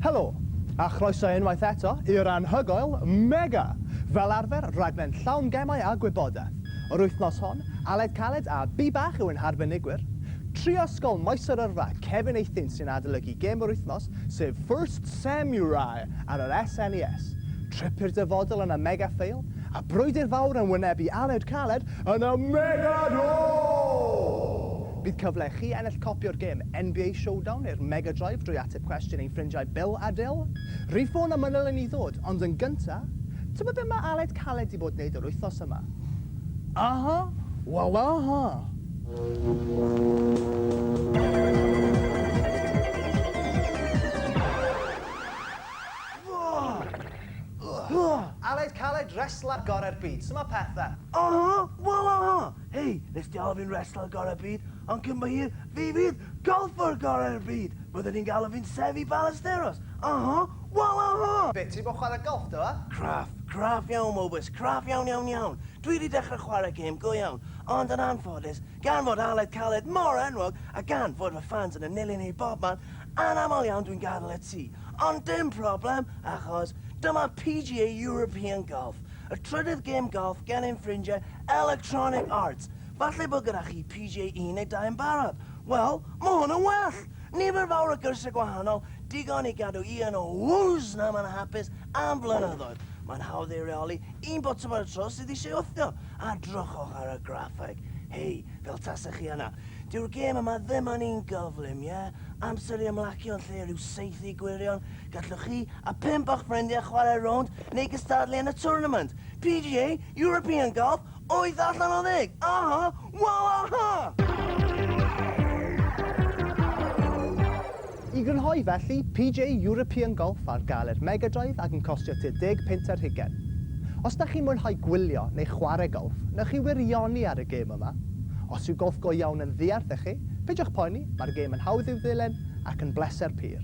Helo, a chroeso unwaith eto i'r anhygoel Mega! Fel arfer, rhaglen llawn gemau a gwybodaeth. Yr wythnos hon, Aled Caled a Bi Bach yw ein harbenigwyr. Tri o Ysgol Maesy'r Yrfa, Cefin Eithin sy'n adolygu gêm yr wythnos, sef First Samurai ar yr SNES. Tripyr dyfodol yn y Mega Fail, a brwydr fawr yn wynebu aled caled yn y Mega Draw! Bydd cyfle i chi ennill copi o'r gêm NBA Showdown neu'r Mega Drive drwy ateb cwestiwn ein ffrindiau Bill a Dill. Rhif ffôn a manyl i ni ddod, ond yn gynta', tybed be mae aled caled 'di bod neud yr wythnos yma? Aha! Wel aha! Aled caled wrestler gore'r byd, su ma pethe? Aha! Wel aha! Hei, nes di alw fi'n wrestler gore'r byd, ond cyn bo hir, fi fydd golffwr gore'r byd! Bydden ni'n galw fi'n Seffi Ballesteros! Aha! Wel aha! Be, ti di bod yn chwarae golff do, ha? Craff, craff iawn Mowbys, craff iawn iawn iawn! Dwi di dechrau chwarae gêm go iawn, ond yn anffodus, Gan fod Aled Caled mor enwog, a gan fod fy ffans yn y nilyn i bobman, anaml iawn dwi'n gadael y tŷ. Ond dim problem, achos dyma PGA European Golf, y trydydd gêm golff gen ein ffrindiau Electronic Arts. Falle bod gyda chi PGA 12 yn barod? Wel, mae hwn yn well! Nifer fawr o gyrsiau gwahanol, digon i gadw un o Wws nam yn hapus am flynyddoedd. Mae'n hawdd ei reoli, un botwm ar y tro sydd eisiau wthio. A drochwch ar y graffeg, hei, fel tasech chi yna. Dyw'r gêm yma ddim yn un gyflym, ie? Amser i ymlacio yn lle rhyw saethu gwirion. Gallwch chi a pump o'ch ffrindiau chwarae rownd neu gystadlu yn y twrnament. PGA, European Golf, wyth allan o ddeg! Aha! Waw aha! I grynhoi felly, PGA European Golf ar gael i'r Mega Drive ac yn costio tua deg punt ar hugain. Os da chi'n mwynhau gwylio neu chwarae golff, newch chi wirioni ar y gêm yma. Os yw golff go iawn yn ddiarth i chi, peidiwch poeni, mae'r gêm yn hawdd i'w ddilyn ac yn bleser pur.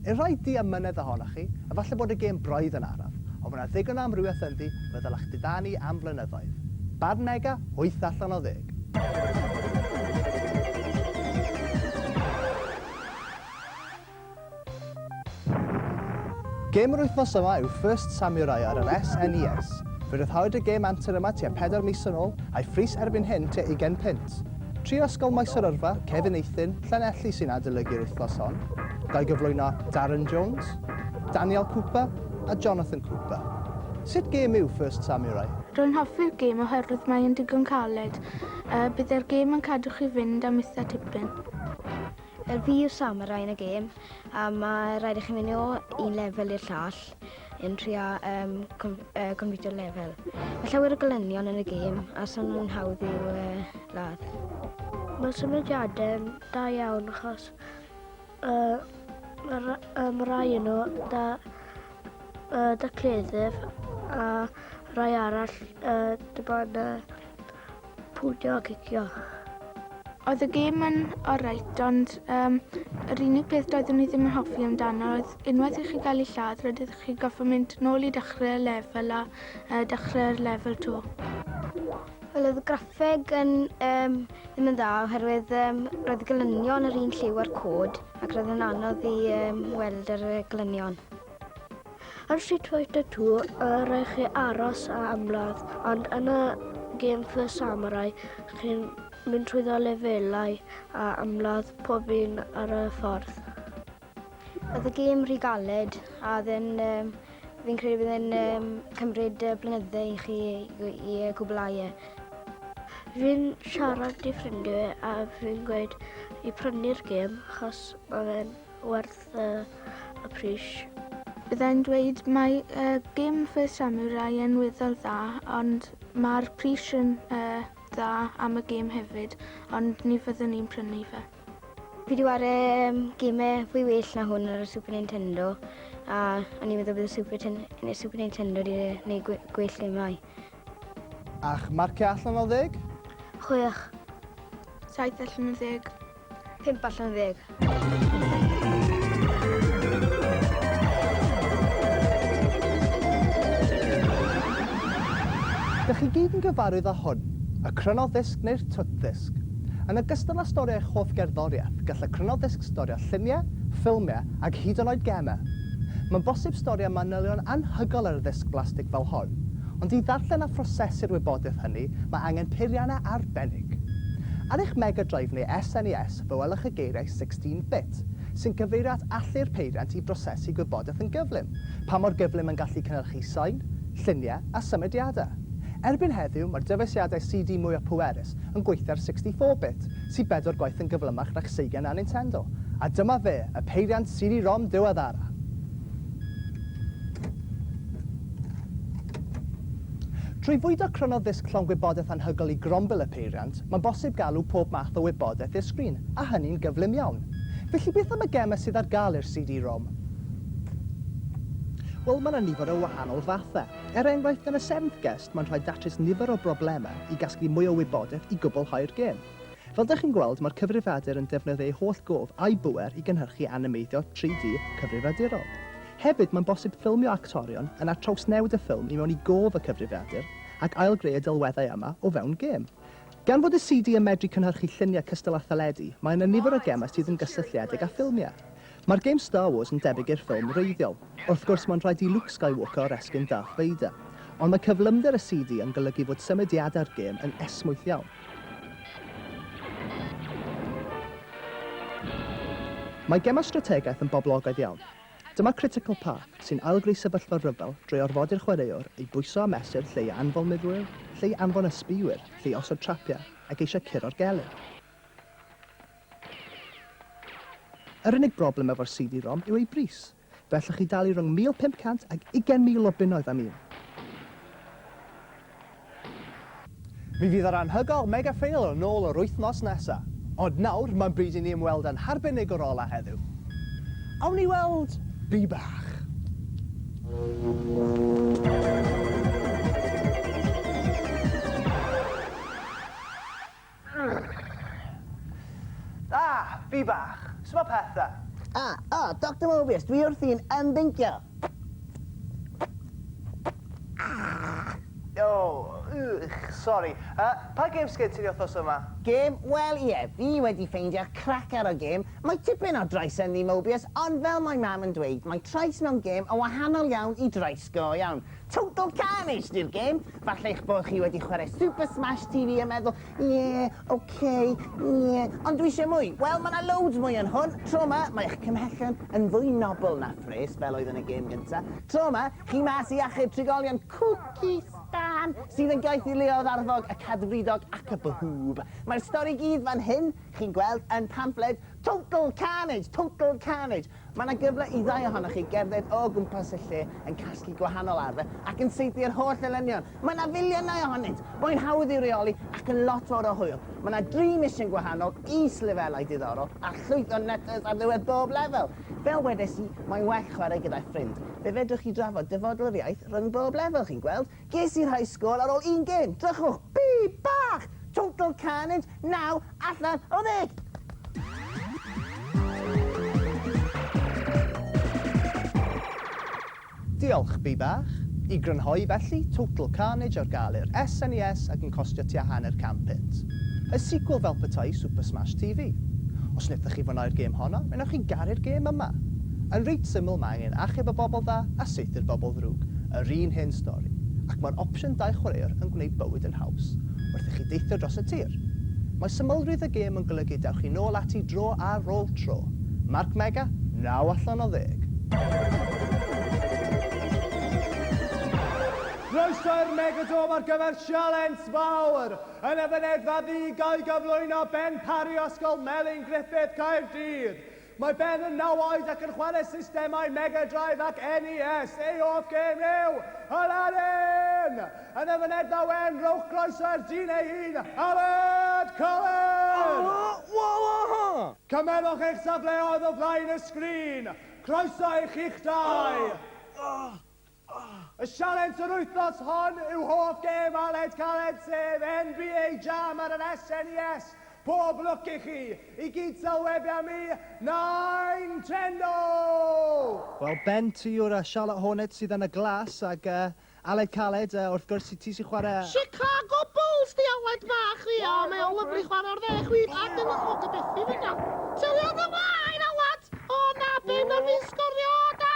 I'r rhai diamynedd ohonoch chi, efallai bod y gêm braidd yn araf, ond mae yna ddigon o amrywiaeth ynddi fe ddylech didanu am flynyddoedd. Barn Mega, wyth allan o ddeg. Gêm yr wythnos yma yw First Samurai ar yr SNES. Fe ryddhawyd y gêm antur yma tua pedair mis yn ôl, a'i phris erbyn hyn tua ugain punt. Tri o Ysgol Maes yr Yrfa, Cefn Eithin, Llanelli sy'n adolygu'r wythnos hon, ga'i gyflwyno Darren Jones, Daniel Cooper a Jonathan Cooper. Sut gêm yw First Samurai? Rwy'n hoffi'r gêm oherwydd mae'n digon caled, a byddai'r gêm yn cadw chi fynd am itha tipyn. Yr fi yw Sam y rai yn y gêm a mae rhaid i chi mynd o un lefel i'r llall yn trio um, com, uh, completio'r lefel. Mae llawer o golynion yn y gêm a sa'n nhw'n hawdd i'w uh, ladd. Mae symudiadau da iawn achos uh, mae um, rai yn nhw da, uh, da cleddyf a rai arall uh, dy bod uh, pwdio a cicio. Oedd y gêm yn oreit, ond um, yr unig peth doeddwn ni ddim yn hoffi amdano oedd unwaith i chi gael ei lladd, rydych chi goffa mynd nôl i dechrau'r lefel a uh, dechrau'r lefel to. Wel, oedd y graffeg yn, um, ddim yn dda oherwydd um, roedd y glynion yr un lliw a'r cod ac roedd yn anodd i um, weld yr glynion. Ar Street Fighter 2, y rhaid chi aros a ymladd, ond yn y gêm First Samurai, chi'n mynd trwyddo lefelau a ymladd pob un ar y ffordd. Oedd y gêm rhy galed, a oedd e'n... Um, fi'n credu bydd e'n um, cymryd uh, blynyddau i chi i, i uh, gwblhau e. Fi'n siarad i ffrindiau a fi'n gweud i prynu'r gêm, chos mae fe'n werth uh, y pris. Byddai'n dweud mae uh, gym fy samurai yn weddol dda, ond mae'r pris yn uh, dda am y gym hefyd, ond ni fyddwn ni'n prynu fe. Fi wedi wario um, gymau fwy well na hwn ar y Super Nintendo, a o'n i'n meddwl bydd y Super, Ten y Super Nintendo wedi gwneud gwe gwell gemau. A'ch marciau allan o ddeg? Chwech. Saith allan o ddeg. Pump allan o ddeg. Dych chi gyd yn gyfarwydd â hwn, y Crynoddisg neu'r Twtddisg. Yn ogystal â storio eich hoff gerddoriaeth, gall y Crynoddisg storio lluniau, ffilmiau ac hyd yn oed gemau. Mae'n bosib storio manylion anhygoel ar ddisg blastig fel hon, Ond i ddarllen a phrosesu'r wybodaeth hynny, mae angen peiriannau arbennig. Ar eich Mega Drive neu SNES, fe welwch y geiriau 16 bit, sy'n cyfeirio at allu'r peiriant i brosesu gwybodaeth yn gyflym, pa mor gyflym mae'n gallu cynhyrchu sain, lluniau a symudiadau. Erbyn heddiw, mae'r dyfeisiadau CD mwyaf pwerus yn gweithio ar 64 bit, sydd bedwar gwaith yn gyflymach na'ch seigiau na Nintendo. A dyma fe, y peiriant CD-ROM diweddara! Trwy fwydo crynodd ddisg llond gwybodaeth anhygoel i grombil y peiriant, mae'n bosib galw pob math o wybodaeth i'r sgrin, a hynny'n gyflym iawn. Felly beth am y gemau sydd ar gael i'r CD-ROM? Wel, mae 'na nifer o wahanol fathau. Er enghraifft, yn y Seventh Guest, mae'n rhaid datrys nifer o broblemau i gasglu mwy o wybodaeth i gwblhau'r gêm. Fel dych chi'n gweld, mae'r cyfrifiadur yn defnyddio ei holl gof a'i bŵer i gynhyrchu animeiddio 3D cyfrifiadurol. Hefyd, mae'n bosib ffilmio actorion yna trawsnewid y ffilm i mewn i gof y cyfrifiadur ac ail-greu y delweddau yma o fewn gêm. Gan fod y CD yn medru cynhyrchu lluniau cystal â theledu, mae yna nifer o gemau sydd yn gysylltiedig â ffilmiau. Mae'r gêm Star Wars yn debyg i'r ffilm wreiddiol. Wrth gwrs, mae'n rhaid i Luke Skywalker oresgyn Darth Vader. Ond mae cyflymder y CD yn golygu fod symudiadau'r gêm yn esmwyth iawn. Mae gemau strategaeth yn boblogaidd iawn. Dyma Critical Path, sy'n ail-greu sefyllfa rhyfel drwy orfodi'r chwaraewr i bwyso a mesur lle i anfon murwyr, lle i anfon ysbïwyr, lle i osod trapiau, ac eisiau curo'r gelyn. Yr unig broblem efo'r CD-ROM yw ei bris. Fe allwch chi dalu rhwng 1,500 ag ugain mil o bunnoedd am un. Mi fydd yr anhygoel Mega Fail yn ôl yr wythnos nesa. Ond nawr, mae'n bryd i ni ymweld â'n harbenigwr ola heddiw. Awn ni weld Bee Bach! Yrgh! Ah! Fi bach! Su' ma' pethe? Ah! O! Doctor Mobius, dwi wrthi'n ymddyngio! O! Ych! Sori. Yy, pa gêm sgen ti ni wthnos yma? Gêm? Wel, ie, fi wedi ffeindio'r cracar o gêm. Mae tipyn o drais ynddi, Mobius, ond fel mae Mam yn dweud, mae trais mewn gêm yn wahanol iawn i drais go iawn. Total carnage 'di'r gêm! Falle eich bod chi wedi chwarae Super Smash TV a meddwl, Ie, ok, ie, ond dwi eisiau mwy! Wel, mae 'na loads mwy yn hwn! Tro 'ma, mae eich cymhellion yn fwy nobl na phres, fel oedd yn y gêm gynta'. Tro 'ma, chi mas i achub trigolion Cwci Stan, sydd yn gaeth i Leodd Arfog, y Cadfridog ac y Bwhŵb. Mae'r stori i gyd fan hyn, chi'n gweld, yn pamffled Total Carnage! Total Carnage! Mae yna gyfle i ddau ohonoch chi gerdded o gwmpas y lle yn casglu gwahanol arfer ac yn saethu yr holl elynion. Mae yna filiynau ohonynt, mae'n hawdd i'w reoli ac yn lot fawr o hwyl. Mae yna dri mision gwahanol, is-lefelau diddorol a llwyth o nutters ar ddiwedd bob lefel. Fel wedes i, mae'n well chwarae gyda'i ffrind. Fe fedrwch chi drafod dyfodol yr iaith rhwng bob lefel, chi'n gweld. Ges i'r high score ar ol un gêm! Drychwch! Bi! Bach! Total carnage! Naw allan o ddeg! Diolch, Bi Bach. I grynhoi felly, Total Carnage ar gael i'r SNES ac yn costio tua hanner can punt. Y sequel fel petai Super Smash TV. Os nethoch chi fwynhau'r gêm honno, mae newch chi garu'r gêm yma. Yn reit syml mae angen achub y bobl dda a Ydy'r bobl ddrwg? Yr un hen stori. Ac mae'r opsiwn dau chwaraewr yn gwneud bywyd yn haws wrth i chi deithio dros y tir. Mae symlrwydd y gêm yn golygu dewch chi nôl ati dro ar ôl tro. Mark Mega, naw allan o ddeg. Croeso i'r Megadome ar gyfer sialens fawr! Yn y fynedfa ddu ga i gyflwyno Ben Parry Ysgol Melin Griffith Caerdydd. Mae Ben yn naw oed ac yn chwarae systemau Mega Drive ac NES. Ei hoff gêm yw Aladdin! Yn y fynedfa wen, rhowch groeso i'r dyn ei hun, Aled Cohen! Cymerwch eich safleoedd o flaen y sgrin. Croeso i chi'ch dau! Y sialens yr wythnos hon yw hoff gêm Aled Caled sef NBA Jam ar yr SNES. Pob lwc i chi! I gyd sy'l webi am mi, Nintendo! Wel Ben ti yw'r yy Charlotte Hornets sydd yn y glas ag yy Aled Caled yy wrth gwrs ti sy'n chwarae yy Chicago Bulls di Aled bach ia mae o'n lyfli chwarae o'r dde chwith ac yn yy o gobeithio fy iawn. Sylwi ar dy waed Aled! O na, be ma fi'n sgorio da!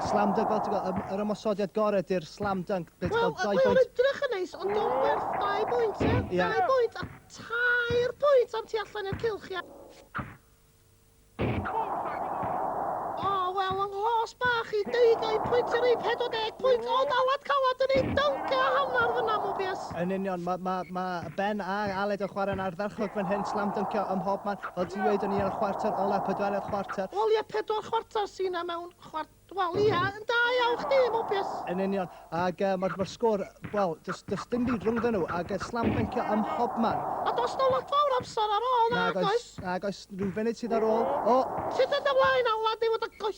Slam dunk fel ti'n gweld, yr ymosodiad gorau di'r slam dunk. Wel, y mae o'n edrych yn neis, ond o'n werth dau bwynt, e? Ie. Dau bwynt a tair pwynt am ti allan i'r cilch, ie? O, wel, yng nghos bach i deugain pwynt i'r ei 40 pwynt, o, dalad calad yn ei dunk a hanner fyna, Mobius. Yn union, mae ma, ma Ben a'r Aled yn chwarae'n ardderchog fan hyn, slam dyncio ym mhob man, fel ti'n dweud, yn un o'r chwarter ola, pedwerydd chwarter. Wel ie, pedwar chwarter sy'n na mewn chwart... Wel ie, yn da iawn chdi, Mobius! Yn union, ac uh, mae'r ma sgôr, wel, does, does dim byd rhwngddyn nhw, ac uh, slam dyncio ym mhob man. A does na lot fawr amser ar ôl, nag oes? Nag oes, rhyw funud sydd ar ôl. O! Sut ydy ymlaen, Aled, neu fod y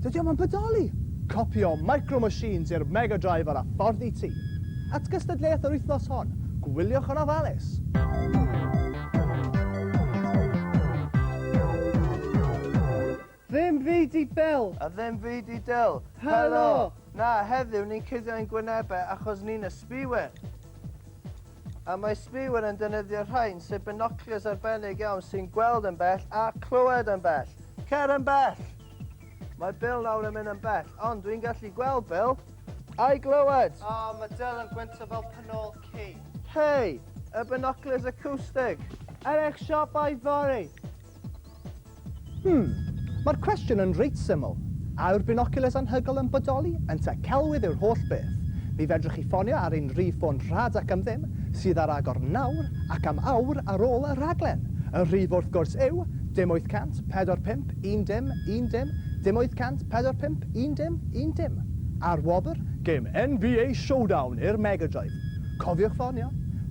Dydy o'm yn bodoli! Copïo Micro Machines i'r Mega Drive ar y ffordd i ti! At gystadleuaeth yr wythnos hon, gwyliwch yn ofalus! Ddim fyd i Bill! A ddim fyd i Dill! Helo! Na, heddiw ni'n cuddio ein gwynebau achos ni'n ysbïwyr! A mae ysbïwyr yn defnyddio rhain, sef binoclars arbennig iawn sy'n gweld yn bell a clywed yn bell! Cer yn bell! Mae Bill nawr yn mynd yn bell, ond dwi'n gallu gweld Bill. Ai glywed! O, oh, mae Dyl yn gwyntio fel penol ci. Hei, y binoculars acoustic. Er eich siopau fory. Hmm, mae'r cwestiwn yn reit syml. A yw'r binoculars anhygol yn bodoli? Ynte, celwydd yw'r holl beth. Mi fedrwch chi ffonio ar ein rhif ffôn rhad ac am ddim, sydd ar agor nawr ac am awr ar ôl y rhaglen. Y rhif wrth gwrs yw dim 800 45 Un dim, un dim, dim 800, pedwar pump, un dim, un dim. A'r wobr? Gêm NBA Showdown i'r Mega Drive. Cofiwch ffonio.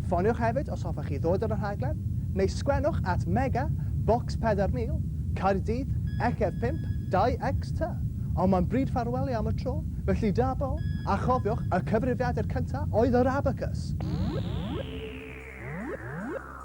Ffoniwch hefyd os hoffech chi ddod ar y rhaglen, neu sgwennwch at Mega, Bocs 4000, Caerdydd, XF 5, 2X ty. Ond mae'n bryd ffarwelio am y tro, felly da bo, a chofiwch, y cyfrifiadur cyntaf oedd yr Abacws!